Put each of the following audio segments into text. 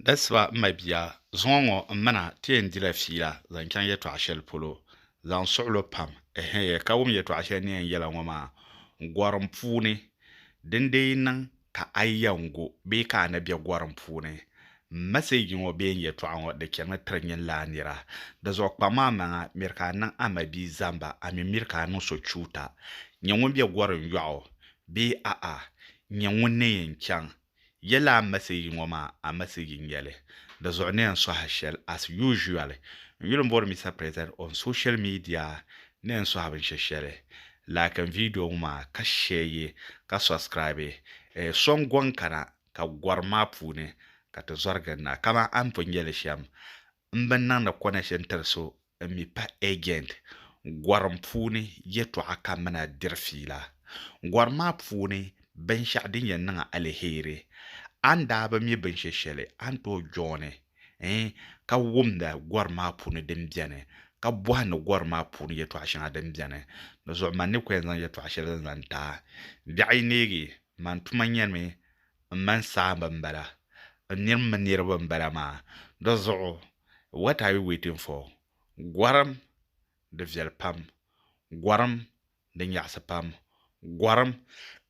Dasiba m mabia, zuŋɔ ŋɔ m ma na ti yɛn dila fiila zaŋ chaŋ yɛtɔɣ shɛli polo zaŋ suɣilo pam, ɛhɛɛ, ka wum yɛtɔɣ shɛli ni yɛn yɛla ŋɔ maa gɔrim puuni, din dee yi niŋ ka a yi yɛn gu bee ka a ni be gɔrim puuni, m mɛsɛji ŋɔ bee n yɛtɔɣ ŋɔ di chanimi tiri nyinlaa nira. Dizuɣu kpam a maŋa, miri ka a niŋ a mabia zamba, a mi miri ka a niŋ so chuuta. Nyɛ ŋun be gɔrim yɔɣu bee a'a, nyɛ ŋun ni yɛn chaŋ Yɛla a message ŋɔ maa a message nyɛli di zuɣu ni yɛn sohi shɛli as usually n yuli bɔri Mister President on social media ni yɛn sohi binshɛ shɛli like n video ŋɔ maa ka share yi ka subscribe eh so n gɔŋ kana ka gɔrim maa puuni ka ti zɔri gindi na kaman a ni pun nyɛli shɛm M bi niŋdi connection tiri so n mi pa agent gorim puuni yɛtɔɣa ka mina diri fiila. Gorim maa puuni binshɛɣu din yɛn niŋ a aliheri, a ni daa bi mi binshɛ shɛli a ni tooi jooni n ka wumda gorim maa puuni din beni ka bɔhindi gorim maa puuni yɛtɔɣa shɛŋa din beni. Di zuɣu man ni ko yɛn zaŋ yɛtɔɣa shɛli zaŋ ti a. Biɛɣu yi neegi, man tuma nyɛmi m mani saamba m bala n niriba mini niriba m bala maa di zuɣu what are you waiting for gɔrim di viɛli pam gɔrim di nyaɣisi pam gɔrim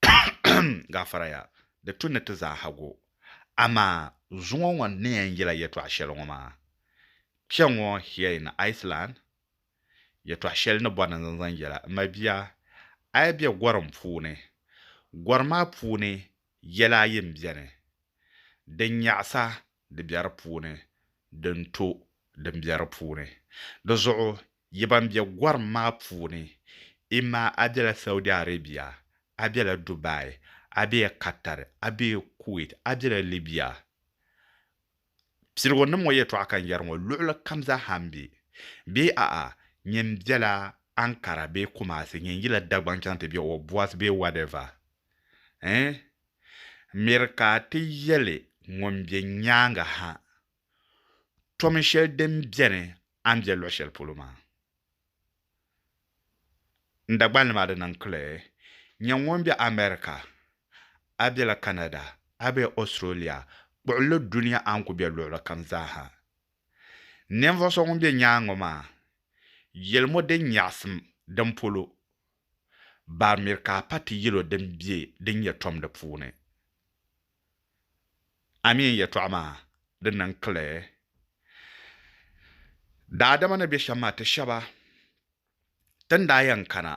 ahem gafara ya di tu ni ti zaaha go amaa zuŋɔ ŋɔ n ni yɛn yela yɛtɔɣa shɛli ŋɔ maa kpɛŋɔ here in Iceland Yɛtɔɣ shɛli ni bɔri ni zaŋ zaŋ yɛla, M ma bia, a yi be gɔrim puuni, gɔri maa puuni yɛla ayi m-beni, Din nyaɣisa di be di puuni, din to din be di puuni. Di zuɣu yi ban be gɔrim maa puuni, imma a bela Saudi Arabia, a bela Dubai, a bee Qatar, a bee Kuwait, a bela Libya, piligu nim ŋɔ yɛtɔɣa ka n yɛri ŋɔ luɣili kam zaa ha m-be bee a'a nyin bela Ankara bee Kumasi nyin yila Dagbaŋ chaŋ ti be Obwas bee whatever eh m miri ka a ti yɛli ŋun be nyaaŋa ha tomi shɛli din beni a ni be luɣ'shɛli polo maa. N Dagbani nima di niŋ kli nyɛ ŋun be America, a bela Canada, a be Australia, kpuɣili dunia a ni ku be luɣili kam zaaha. Ninvuɣ so ŋun be nyaaŋa ŋɔ maa, yelimo din nyaɣisim din polo, baramir ka a pa ti yel o din be din nyɛ tom di puuni. Amin yɛtɔɣa maa di niŋ kile daadama ni be shɛm maa ti shɛba tin daa yɛn kana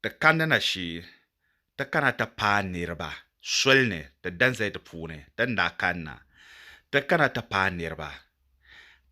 ti kandi na shee ti kana ti paai niriba soli ni ti danzali di puuni tin daa kanna ti kana ti paai niriba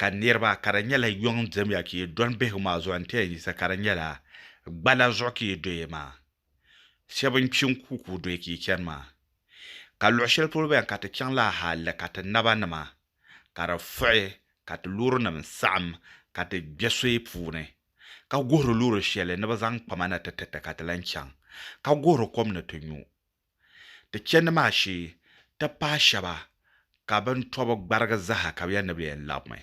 ka niriba ka di nyɛla yuŋ dimiya ka yi dɔni bihigu maa zuɣu n ti yɛn yisa ka di nyɛla gbala zuɣu ka yi doya maa. shɛba n-kpi n-ku ka o dɔyi ka yi chani maa, ka luɣ shɛli polo bɛ ni ka ti chaŋ la hali ka ti naba nima ka di fuɣi ka ti loorinim saɣim ka ti kpe soya puuni, ka guhiri loori shɛli ni bɛ zaŋ kpa ma na ti tiriti ka ti lan chaŋ, ka guhiri kom ni ti nyu. Ti chandi maa shee, ti paai shɛba ka bɛ ni tɔbi gbarigi zaha ka bɛ yɛn ni bɛ yɛn labimi.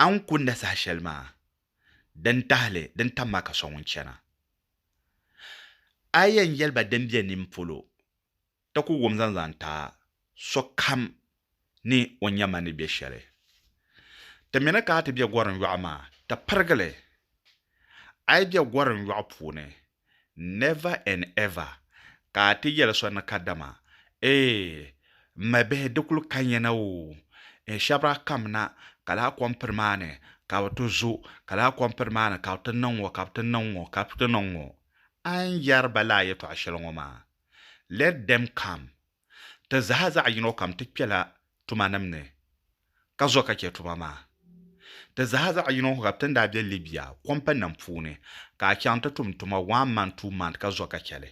A ni ku na saha shɛli maa, din tahili din tam maa ka so ŋun chana. A yɛn yɛli ba din be nin polo, ti ku wum zaŋ zaŋ ti a, sokam ni o nya ma ni be shɛli. Ti mi ni ka a ti be gorim yɔɣu maa, ti pirigi li. A yi be gorim yɔɣu puuni, Never and ever ka a ti yɛli so ni kadama, Ee, m mabihi di kuli ka nya na oo, n shabira kam na ka lahi kom piri maa ni ka bɛ ti zo, ka lahi kom piri maa ni ka bɛ ti niŋ ŋɔ, ka bɛ ti niŋ ŋɔ, ka bɛ ti niŋ ŋɔ. A ni yɛri ba lala yɛtɔɣ shɛli ŋɔ maa, Let them come, Ti zaa zaɣ yino kam ti kpela tumanim ni ka zo ka chɛ tuma maa. Ti zaa zaɣ yino kam ti ni daa be Libya kɔmpaninim puuni ka a chaŋ ti tum tuma one month, two month ka zo ka chɛ li.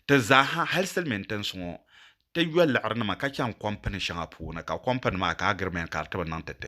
Ti zaaha hal silimiin tinsi ŋɔ ti yo liɣirinima ka chaŋ kɔmpani shɛŋa puuni ka kɔmpani maa ka agreement ka di ti bi niŋ ti ti.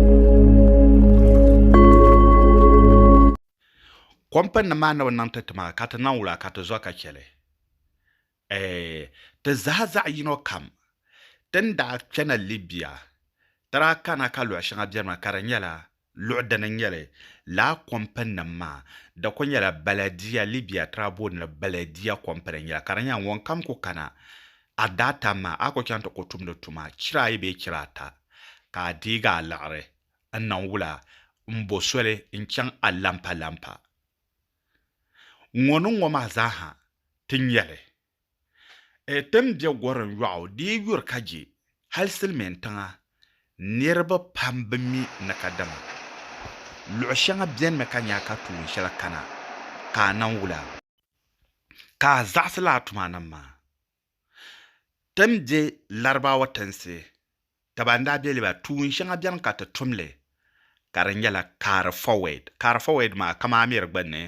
Kɔmpani nim maa ni bi niŋ ti ti maa ka ti niŋ wula ka ti zɔ ka chɛli? Ɛɛh, ti zaha zaɣ yino kam. Ti ni daa kpɛna Libya, ti daa kana ka luɣ shɛŋa benimi ka di nyɛla luɣ dini n-nyɛ li. Lala kɔmpani nim maa, di kuli nyɛla Baladia, Libya ti daa booni li Baladia kɔmpani n-nyɛ la ka di nyɛla ŋunkam ku kana a daatan maa a ku chaŋ ti ku tumdi tuma chira ayi bee chira ata, ka a deegi a liɣiri n-niŋ wula m-bo soli n-chaŋ a lampalampa ŋɔ ni ŋɔ maa zaaha ti nya li. Ɛ ti ni be gorim yɔɣu dii yuri ka je hal silimiin tiŋa niriba pam bi mi ni ka dama luɣ shɛŋa benimi ka nya ka tuun shɛli kana ka a niŋ wula. ka a zaɣisila a tumanim maa. Ti ni be Larabawa tinsi daba n-daa be li ba tuun shɛŋa beni ka ti tum li ka di nyɛla carry forward. Carry forward maa kaman a miri gbunni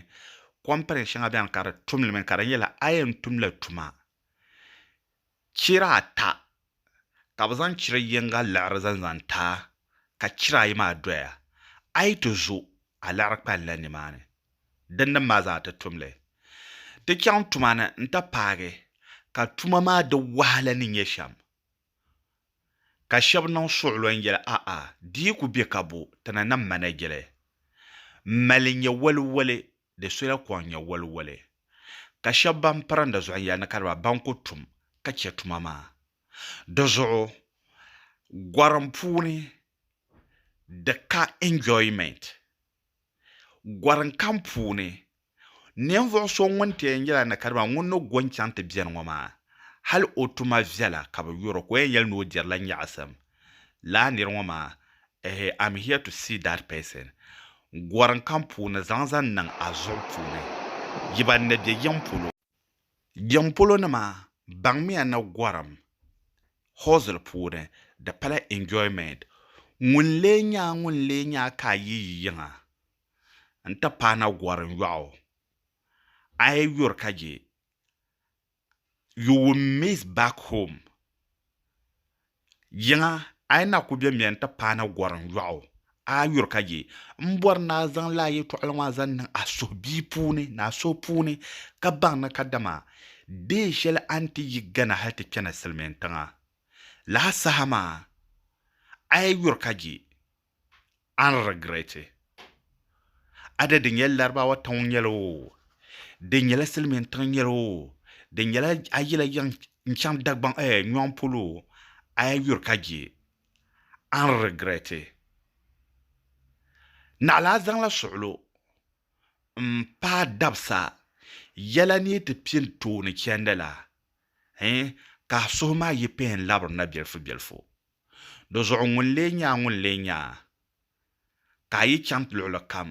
company shɛŋa beni ka di tum li mi ka di nyɛla a yɛn tumla tuma chira ata ka bɛ zaŋ chira yiŋga liɣiri zaŋ zaŋ taai ka chira ayi maa doya a yi ti zo a liɣiri kpalinla nimaani din nim maa zaa ti tumli ti chaŋ tuma ni n ti paagi ka tuma maa di wahala ni nyɛ shɛm ka shɛb niŋ suɣulo n yɛli a'a di yi ku be ka bo ti ni nam manajili m mali nyɛ waliwali di sola kɔŋ nyɛ waliwali, ka shɛba ban pirinda zuɣu yɛli ni ka di ba ban ku tum ka chɛ tuma maa. Di zuɣu gɔrim puuni di ka enjoyment. Gɔrim kam puuni ninvuɣ so ŋun ti yɛn nyɛla ni ka di ba ŋun ni go n-chaŋ ti beni ŋɔ maa, hal o tuma viɛla ka bɛ yɔr o ka o yɛn yɛli ni o dirila nyaɣisim. Laa nir ŋɔ maa, ehe, I'm here to see that person. Gɔrim kam puuni zaŋ zaŋ niŋ a zuɣu puuni. Yi ban ni be yiŋ polo. Yiŋ polo nima baŋmiya ni gɔrim hustle puuni di pala enjoyment. Ŋun lee nya a ŋun lee nya a ka a yi yi yiŋa n-ti paana gɔrim yɔɣu. A yi yuri ka je you will miss back home yiŋa a yi na ku be mɛ n-ti paai na gɔrim yɔɣu a yuri ka je. M bɔri ni a zaŋ lala yɛtɔɣili ŋɔ a zaŋ niŋ a suhubia puuni ni a suhu puuni ka baŋ ni kadama deen shɛli a ni ti yi Ghana hali ti chani silimiintiŋa laha saha maa a yi yuri ka je. an regret it ada di nyɛla laribawa tiŋ nyɛli o di nyɛla silimiin tiŋ nyɛli o di nyɛla a yila yiŋ n chaŋ dagbaŋ eh nyɔŋ polo a yi yuri ka je an regret it naɣila a zaŋla suɣilo n paai dabisa yɛla ni yi ti piɛ n tooni chɛndi la eh ka a suhu maa yi pihim labiri na bɛlifu bɛlifu. Dizuɣu ŋun lee nya a ŋun lee nya a? Ka a yi chaŋ luɣili kam,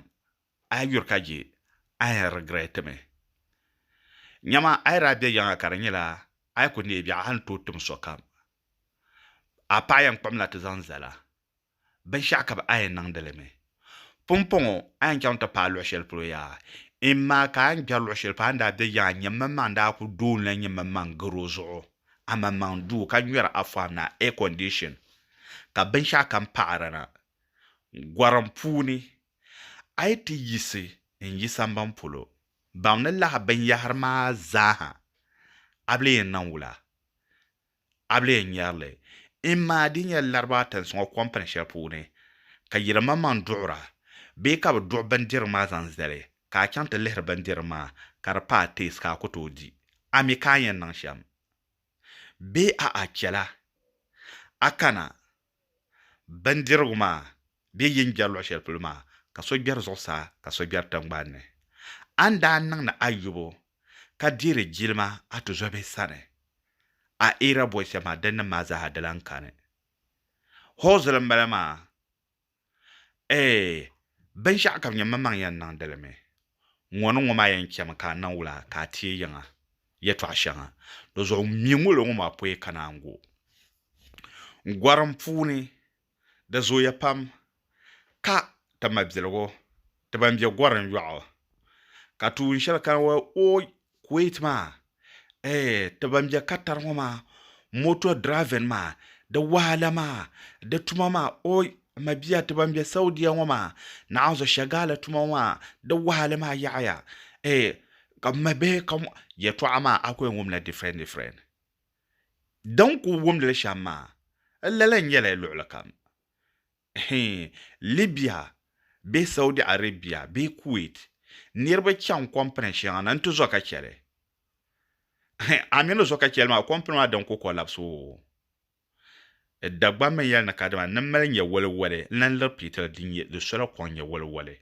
a yi yuri ka je, a yɛn regret mi. Nyama a yi daa be yiŋa ka di nyɛla a yi ku neei biɛɣu a ni tooi tim sokam. A paɣa yɛn kpuɣimla ti zaŋ zali a. Binshɛɣu ka bɛ a yɛn niŋdi li mi. Pumpɔŋɔ, a yɛn chaŋ ti paai luɣ shɛli polo yaa? Amaa ka a ni kpɛri luɣ shɛli polo, a ni daa be yaŋa, nyɛmmaŋmaŋ daa kul doonila nyɛmmaŋmaŋ gar o zuɣu, amaŋmaŋ duu, ka nyɔri afɔam na, air condition, ka binshɛɣukam paɣiri na gɔrim puuni. A yi ti yiɣisi n-yi samban polo, baŋ ni lahi binyɛhiri maa zaaha a bi lee yɛn naŋ wula. A bi lee nyari li? M ma, di nyɛla laribaa tinsuŋɔ kɔmpini shɛli puuni ka yilimaŋmaŋ duɣira bee ka bɛ duɣi bindirigu maa zaŋ zali ka a chaŋ ti lihiri bindirigu maa ka di pa a teesi ka a ku tooi di? A mi ka a ni yɛn niŋ shɛm bee a'a chɛla a kana Bindirigu maa bɛ yi ni gbɛri luɣ shɛli polo maa, ka so gbɛri zuɣusaa ka so gbɛri tiŋgbani ni. A ni daa niŋ ni a yubu ka deeri jilima a tuzɔbihi sani, a eera bɔyisa maa, dinnim maa zaaha di lan kani hɔ zuli m-bala maa. Ee, binshɛɣu ka nyɛ mmaŋ yɛn niŋdi li mi. Ŋɔ ni ŋɔ maa yɛn chɛmi ka a niŋ wula ka a teei yiŋa yɛtɔɣ shɛŋa? Di zuɣu mi ŋolo ŋɔ maa pɔi ka naan go n gɔrim puuni. Di zooya pam ka ti mabiligu Ti ban be gorim yɔɣu ka tuun shɛli kana wa ooy Kuwait maa eh ti ban be Qatar ŋɔ maa motor driving maa di wahala maa di tuma maa ooy m mabia ti ban be Saudia ŋɔ maa naɣinzɔ Shagala tuma ŋɔ maa di wahali maa yaɣiya eh ka m mabihi ka mɔ yɛtɔɣa maa a ku yɛn wumla different different din ku wumdili shɛm maa lala n nyɛla luɣuli kam Hee, Libya bee Saudi Arabia bee Kuwait niriba chaŋ kompini shɛŋa ni n-ti zo ka chɛli. Hee, a mi ni zo ka chɛli maa, kompini maa din ku kɔlabisi oo. Dagbammi yɛli ni kadama ni mali nyɛ waliwali n-lan liri piitili din nyɛ di sola kɔŋ nyɛ waliwali.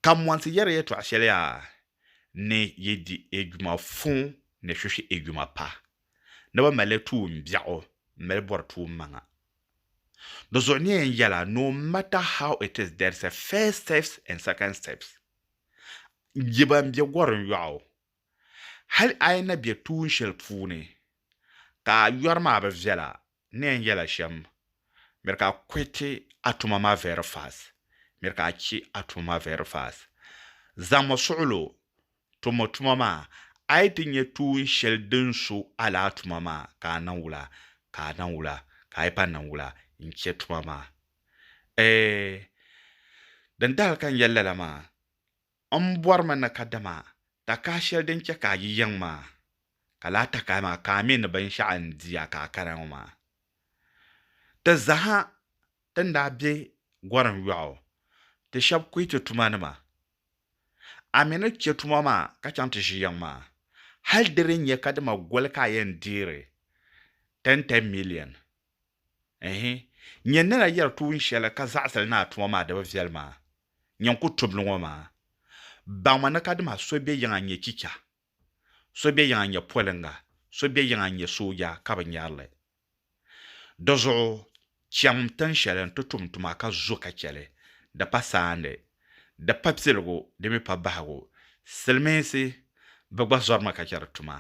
Ka mɔnsi yɛri yɛtɔɣ shɛli yaa, Ni yi di Ejuma fuŋ ni shushi Ejuma pa. ni bɛ mali tuun biɛɣu m-mali bɔri tuun maŋa. Di zuɣu ni yɛn yɛla no matter how it is there's a first steps and second steps. Yi ban be gɔrin yɔɣu, hali a yi na be tuun shɛli puuni ka a yɔri maa bi viɛla n yɛn yɛla shɛm, miri ka a kɔhiti a tuma maa very fast, miri ka a che a tuma maa very fast. Zaŋmi suɣilo tum o tuma maa, a yi ti nya tuun shɛli din su a la a tuma maa ka a naŋ wula, ka a naŋ wula, ka a yi pa naŋ wula n-che tuma maa. Eeh! Dindali ka n yɛli lala maa, M bɔrimi ni kadama takahi shɛli din chɛ ka a yi yiŋ maa, ka lahi takahi maa ka a mi ni binshɛɣu n di a ka a kara ŋɔ maa. Ti zaha ti ni daa be Gorim yɔɣu, ti shɛb kuhi ti tumanima, A mi ni chɛ tuma maa ka chaŋ ti ʒi yiŋ maa, hal di di nyɛ kadama goli ka a yɛn deeri tɛntɛn miliɛn. Ɛɛhi! Nyɛ nila yɛri tuun shɛli ka zaɣisiri ni a tuma maa di bi viɛli maa, nyɛ n ku tubili ŋɔ maa. Baŋmi ni kadama so be yiŋa n-nyɛ chicha, so be yiŋa n-nyɛ poliŋga, so be yiŋa n-nyɛ sooja ka bi nyari li. Di zuɣu, chaŋm tin shɛli nti tum tuma ka zo ka chɛ li, di pa saandi. di pa piligu di mi pa bahigu, silimiinsi bɛ gba zɔrimi ka chɛri tuma,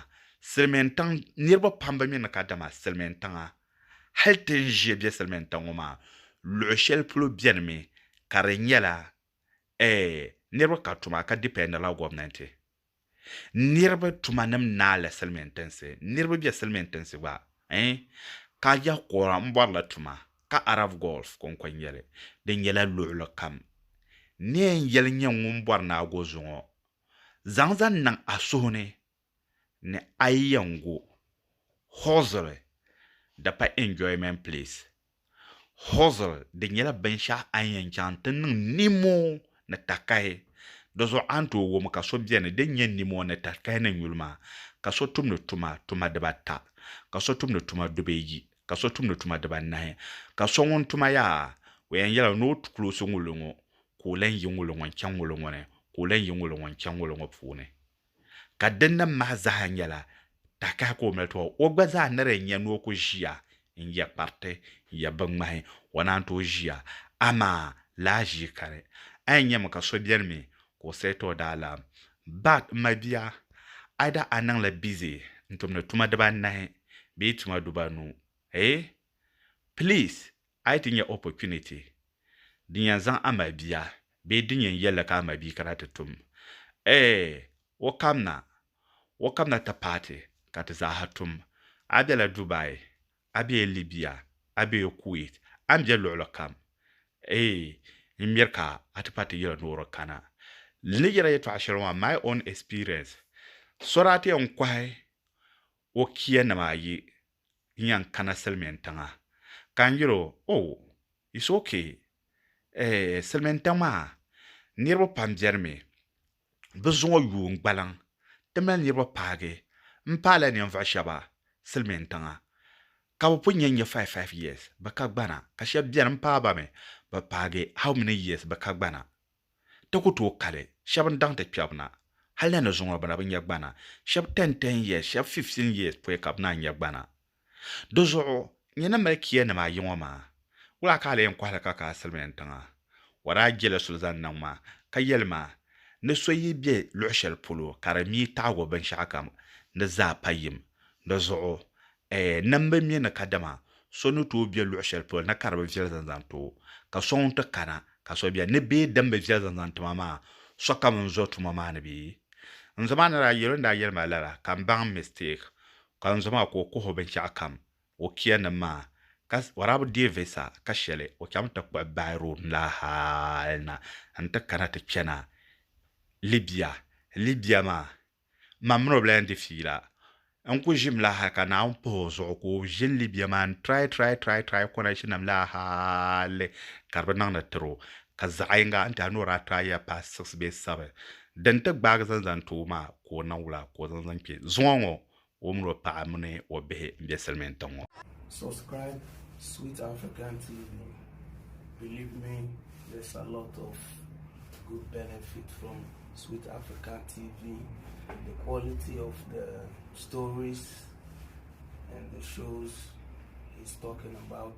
silimiintiŋ niriba pam bi mi ni ka dama silimiintiŋa hali ti ni ʒiɛ be silimiintiŋ ŋɔ maa luɣi shɛli polo beni mi ka di nyɛla eh niriba ka tuma ka dipɛndila gomnanti. niriba tuma nim naai la silimin tinsi niriba bɛ silimin tinsi gba eh ka yah kɔra n bɔri la tuma ka Arab Gulf konko nyɛli di nyɛla luɣili kam ni yɛn yɛli nyɛ ŋun bɔri ni a go zuŋɔ zaŋ zaŋ niŋ a suhu ni ni a yi yɛn go huɣisiri di pa enjoyment place Hozir di nyɛla binshɛɣu a ni yɛn chaŋ nti niŋ nimo ni takahi. Di zuɣu a ni tooi wum ka so beni din nyɛ nimo ni takahi ni nyuli maa, ka so tumdi tuma tuma dibata, ka so tumdi tuma dubeyi, ka so tumdi tuma dibanahi, ka so ŋun tuma yaa, o yɛn yɛla ni o kuloosi ŋuli ŋɔ, ka o lan yi ŋuli ŋɔ n-chaŋ ŋuli ŋɔ ni, ka o lan yi ŋuli ŋɔ n-chaŋ ŋuli ŋɔ puuni. ka di nim maa zaa nyɛla takahi ka o mali tɔbu. O gba zaa ni di nya ni o ku ʒiya n-yɛ kpariti n-yɛ binŋmahi, o naan tooi ʒiya, amaa laa ʒii ka di. A yi nyami ka so beni mi ka o said o daalaam, Bart, m ma bia, either a niŋla busy n-tumdi tuma dibaa anahi bee tuma dubaa anu, eh? Please, A yi ti nya opportunity din yɛn zaŋ a mali bia bee din yɛn yɛlli ka a mali bia kana ti tum, Ee, o kam na, o kam na ti paai ti ka ti zaa ha tum. A bela Dubai, a bee Libya, a bee Kuwait, a ni be luɣili kam, Ee, n miri ka a ti paai ti yila noori kana. Li ni yɛla yɛtɔɣa shɛli ŋɔ maa, My own experience, Sɔrati n kɔhi o kiya nima ayi nya n-kana silimiin tiŋa ka n yɛl o, Oh, it's ok, eh, silimiin tiŋ maa niriba pam beni mi. Bɛ zuŋɔ yuui n-gbaliŋ. Ti mali niriba paagi m-paala ninvuɣ shɛba silimiin tiŋa ka bɛ pun nya n-nyɛ five five years bɛ ka gbana ka shɛba beni m-paai ba mi bɛ paagi how many years bɛ ka gbana. Ti ku tooi kali, shɛb n-daŋ ti kpɛbu na, hal na ni zuŋɔ bɛ na bi nya gbana, shɛb ten ten years, shɛb fifteen years pɔi ka bɛ naan nya gbana. Di zuɣu, n ni ni mali kiyanim ayi ŋɔ maa, wula ka a lee yɛn kɔhi li ka ka a silimiin tiŋa? O daa jela suli zaŋ niŋ ma, ka yeli ma, Ni so yi be luɣ shɛli polo ka di mi taɣigu binshɛɣukam, di zaa pa yim. Di zuɣu, Ɛɛ, nam bɛ mi ni kadama so ni tooi be luɣ shɛli polo na ka di bi viɛli zaŋ zaŋ ti o, ka so ŋun ti kana ka so beni ni bee din bi viɛli zaŋ zaŋ ti ma maa, sokam n-zo tuma maa ni bee? N zo maa ni daa yɛl o ni daa yɛli ma lala, ka m baŋ mistake, ka n zo maa ka o kuhi o binshɛɣu kam, o kiyanim maa, ka Waraabu deei visa ka shɛli o chaŋmi ti kpuɣi by road n lahi hal na nti kana ti kpɛna Libya, Libya maa Mam mini o bi lahi yɛn di fiila. N ku ʒim la hal ka Naawuni pahi o zuɣu ka o ʒi n Libya maa n-try try try try connection-nim la hal ka di bi niŋ ni tiri o ka zaɣ yiŋga n ti a ni o daa try ya past six bee seven. Din ti gbaagi zaŋ zaŋ ti o maa ka o niŋ wula ka o zaŋ zaŋ kpe zuŋɔ ŋɔ O mini o paɣa mini o bihi n be silimiin tiŋ ŋɔ. Subscribe Sweet African TV. Believe me, there's a lot of good benefit from Sweet African TV. The quality of the stories and the shows he's talking about.